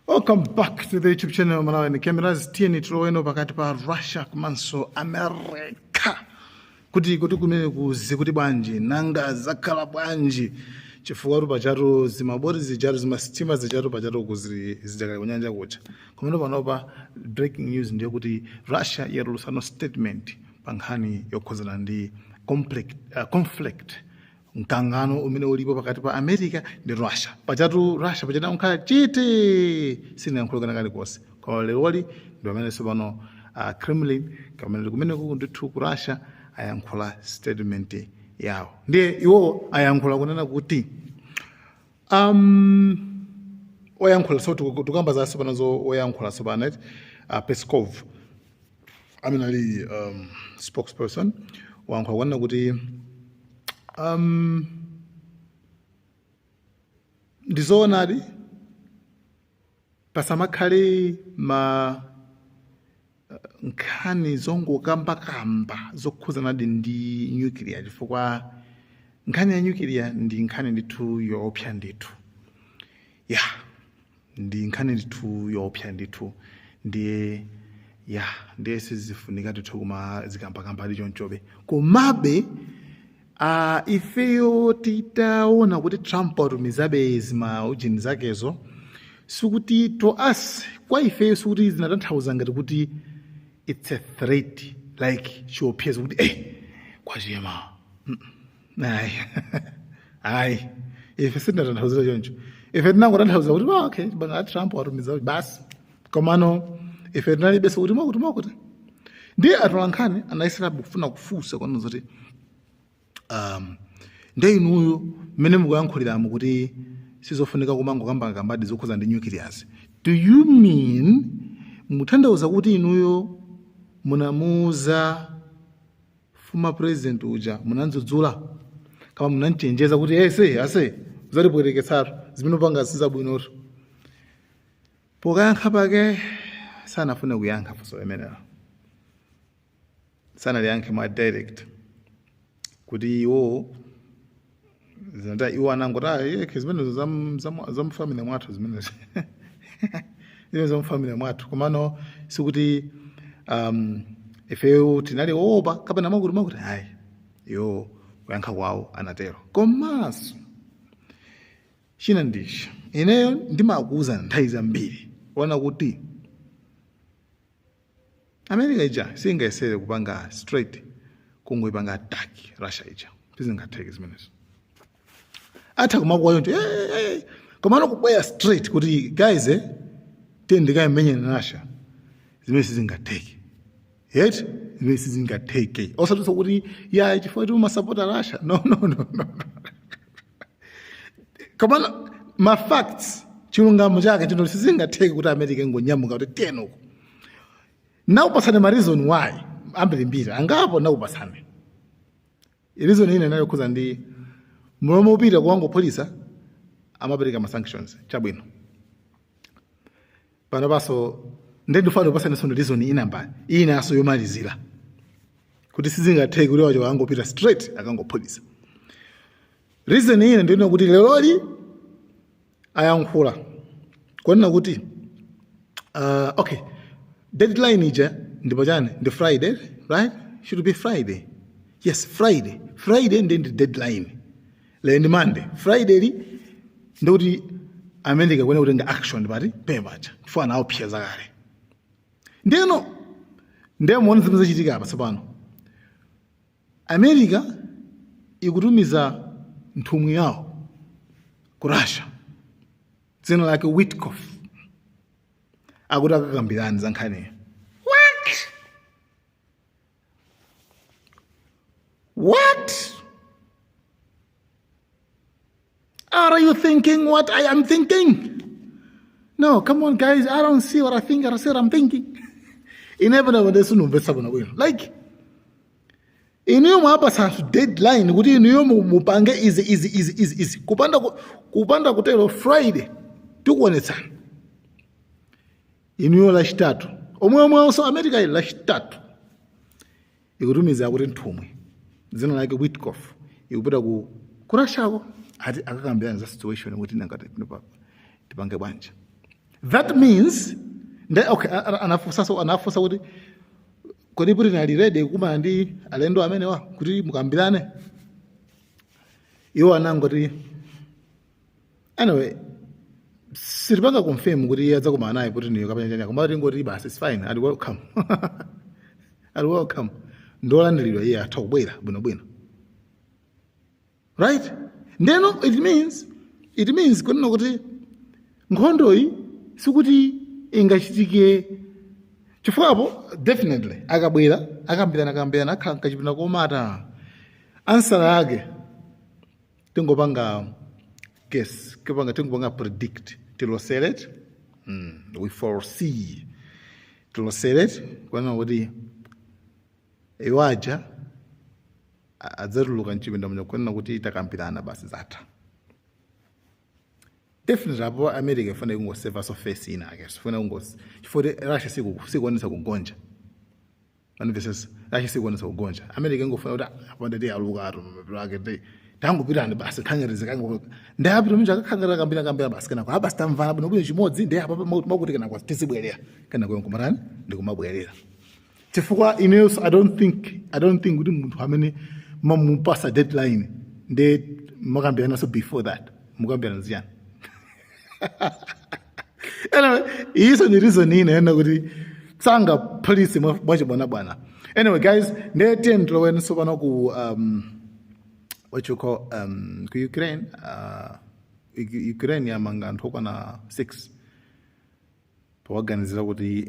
Welcome back to the YouTube channel Malawian Cameras. Tiyeni tiloweno pakati pa Russia komanso America. Kuti kuti kumene kuzi kuti bwanji nanga zakhala bwanji chifukwa tu pachatu zimaboti zijatu zimasitima zijatu pachatu kuzili zijakali kunyanja kucha. Kumene panopa breaking news ndiyo kuti Russia yatulutsano statement pa nkhani yokhudzana ndi conflict, uh, conflict mkangano umene ulipo pakati pa america ndi russia pachatu russia pachapa inakhala chete sinayankhule kena kalikonse koma leroli ndi pamene tsopano uh, kremlin kamene kali kumeneko ndithu ku russia ayankhula statement yawo ndiye iwowo ayankhula kunena kuti Um, oyankhula so tiku- tikukamba za tsopano zo oyankhula tsopano eti uh, Peskov amene ali um, spokesperson wayankhula kunena kuti um, ndizoonadi pasamakhale ma nkhani zongokambakamba zokhudzanadi ndi nyukiliya chifukwa nkhani ya nyukiliya ndi nkhani ndithu yoopsa ndithu ya ndi nkhani ndithu yoopsa ndithu ndiye ya ndiye sizifunika ndithu kumazikambakambadi chonchobe komabe Ah, ifeyo titaona kuti trump watumizabe zima ujeni zakezo sikuti to us kwa ifeyo sikuti zinatanthauza ngati kuti it's a threat like chiopsezo kuti eh kwachema ayi ayi ife sitinatanthauzire choncho ife tinangotanthauza kuti "Ah, okay bwana trump watumiza basi komano ife tinalibenso kuti mwakuti mwakuti ndiye atolankhani anayesera kufuna kufunsa kunena zoti um, nde inuyo mmene mukuyankhuliramo kuti sizofunika kumangokambakambadi zokhudza ndi nuclears do you mean mutanthauza kuti inuyo munamuuza former president uja munamdzudzula kama munamchenjeza kuti ese ase udzatipweteketsatu zimene upanga sizabwinotu Pokayankha pake sanafune kuyankha funso limenelo, sanaliyankhe mwa direct kuti iwo zinata iwo anangoti "Ah, yekhe zimenezo zam- zam- zamufamily mwathu zimenezo iwo zamufamily mwathu komano sikuti um, ifeyo tinali oopa kapena mwakuti mwakuti ayi iwo kuyankha kwawo anatero komanso China ndichi, ineyo ndimakuuza nthawi zambiri kuona kuti America ija singayesere kupanga straight kungoipanga attack Russia ija sizingatheke zimenezo atha kumakuwa choncho eh, eh, eh, eh. komano kubwera straight kuti guys eh, tiyeni tikayimenye Russia zimene sizingatheke yes zimene sizingatheke osatsutsa kuti ya chifukwa kuti umasapota Russia no no no no komano ma facts chilungamo chake chino sizingatheke kuti america ingonyamuka kuti tiyeni uko nakupatsani ma reason why ambirimbiri angapo nakupatsani reason ina yokhudza ndi m'malo mopita kukangophulitsa amapereka ma sanctions chabwino panopaso nde ndifuna ndikupatseninso ndi reason ina mbali inaso yomalizira kuti sizingatheke kuti awa akangopita straight akangophulitsa reason ina ndi yonena kuti leroli ayankhula kunena kuti uh, okay deadline ija ndipo chani ndi friday right should be friday yes friday friday nde ndi deadline lero ndi monday friday-li ndikuti america ikuyenera kutenga action pati mpapacha chifukwa anaopseza kale ndeno ndiye muone zimene zachitika apa tsopano america ikutumiza nthumwi yawo ku russia dzina lake witkof akuti akakambirani za nkhaniyo What are you thinking what I am thinking? No, come on, guys. I don't see what I think. I said I'm thinking. Inevitable, there's no verse Like, inuyo mwapasa anthu deadline kuti inuyo mupange izi izi izi izi izi kupanda kupanda kutero friday tikuonetsana inuyo lachitatu lomwelomwelinso america-yi lachitatu ikutumiza akuti nthumwi dzina lake witkoff ikupita ku russiako ati akakambirane za situation kuti nangati panopa tipange bwanji that means nde okay a- a- anafunsaso anafunsa kuti kodi putin ali ready kukumana ndi alendo amenewa kuti mukambirane iwo anangoti anyway sitipanga confirm kuti iye adzakumana naye putin-yo kapena chani koma tingoti basi it's fine ali welcome ali welcome ndolandiridwa iye atha kubwera bwinobwino right ndeno it means it means kunena kuti nkhondoyi sikuti ingachitike chifukwa apo definitely akabwera akambirana akambirana akhala mkachipinda komata answer yake tingopanga guess tingopanga predict tilosere mm, we foresee tilosere kunena kuti iwo aja a- adzatuluka mchipinda muja kunena kuti takambirana basi zatha definitely apo america ifuna kungosevaso face ina ake sifuna kungos chifukwa kuti russia siku- sikuonesa kugonja Manifest ya Russia sikuonesa kugonja. America ingofuna kuti apanda ti aluka atu mapiro ake ti tangopitani basi khangere zikango. Nde apita mnja akakhangera kambira kambira basi kenako abasi tamvana bwino bwino chimodzi ndi apa makuti kenako tizibwerera kenako nkumatani ndi kumabwerera. Chifukwa ineso I don't think I don't think kuti munthu amene mamupasa deadline nde mukambiranaso before that mukambirana ziyani. anyway iyiso ndi reason inayake kuti sangaphulise mwachibwanabwana anyway guys nde tiyeni tiloweni sopano ku um, what you call um, ku ukraine uh, ukraine yamanga anthu okwana six powaganizira kuti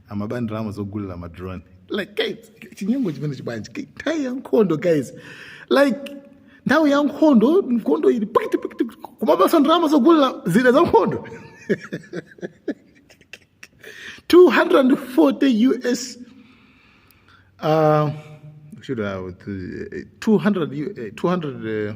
amaba ndrama zogulira ma drone like guys chinyengo chimenechi bwanji Ki- nthawi ya nkhondo guys like nthawi ya nkhondo nkhondo ili pakati pakati kumabaso ndrama zogulira zida za nkhondo 240 us uh, should I, 200, U- eh, 200 uh,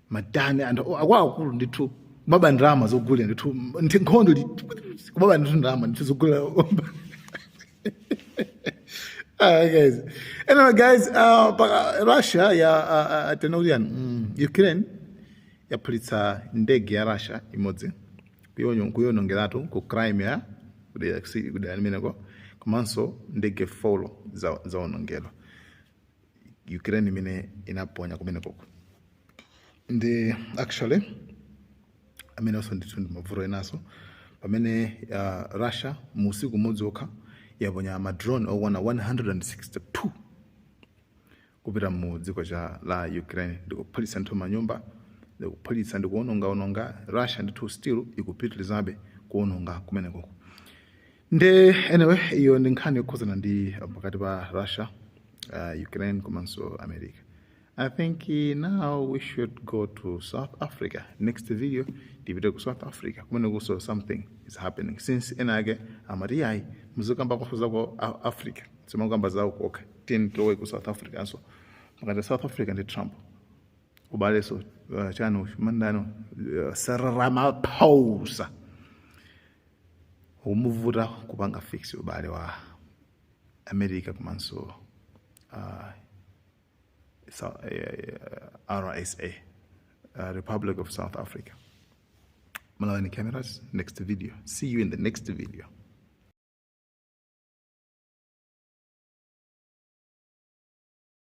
madani ndi akuluakulu ndithu kumaba ndrama zogulira ndithu m- nthi- nkhondo ndi- kumaba ndithu ndrama ndithu zogulira Ah, guys anyway guys uh, pa- russia ya uh, uh, tinene kuti chani mm, ukraine yaphulitsa ndege ya russia imodzi kuyono- kuyonongeratu ku crimea kudera kusi- kudera limeneko komanso ndege folo za- zaonongedwa ukraine imene inaponya kumenekoko nde actually amenewonso ndithu ndi mavuto enaso pamene uh, russia mu usiku umodzi okha yaponya madrone okwana 162 kupita mu dziko cha la ukraine ndikuphulitsa ndithu manyumba ndikuphulitsa ndikuonongaononga russia ndithu still ikupitilizabe kuononga kumenekoko nde anyway iyo ndi nkhani yokhuzana ndi pakati pa russia uh, ukraine komanso america i think eh, now we should go to south africa next video tipite ku south africa kumene kuso something is happening since ena ake amati yayi muzikamba zaso zaku africa simakukamba zawo kokha tiyeni tilowe ku south africa nso pakati south africa ndi trump ubaleso uh, chani mandano uh, eh, Cyril Ramaphosa ukumuvuta kupanga fix ubale wa america komanso uh, Sou- eh, eh, rsa uh, republic of south africa malawian cameras next video see you in the next video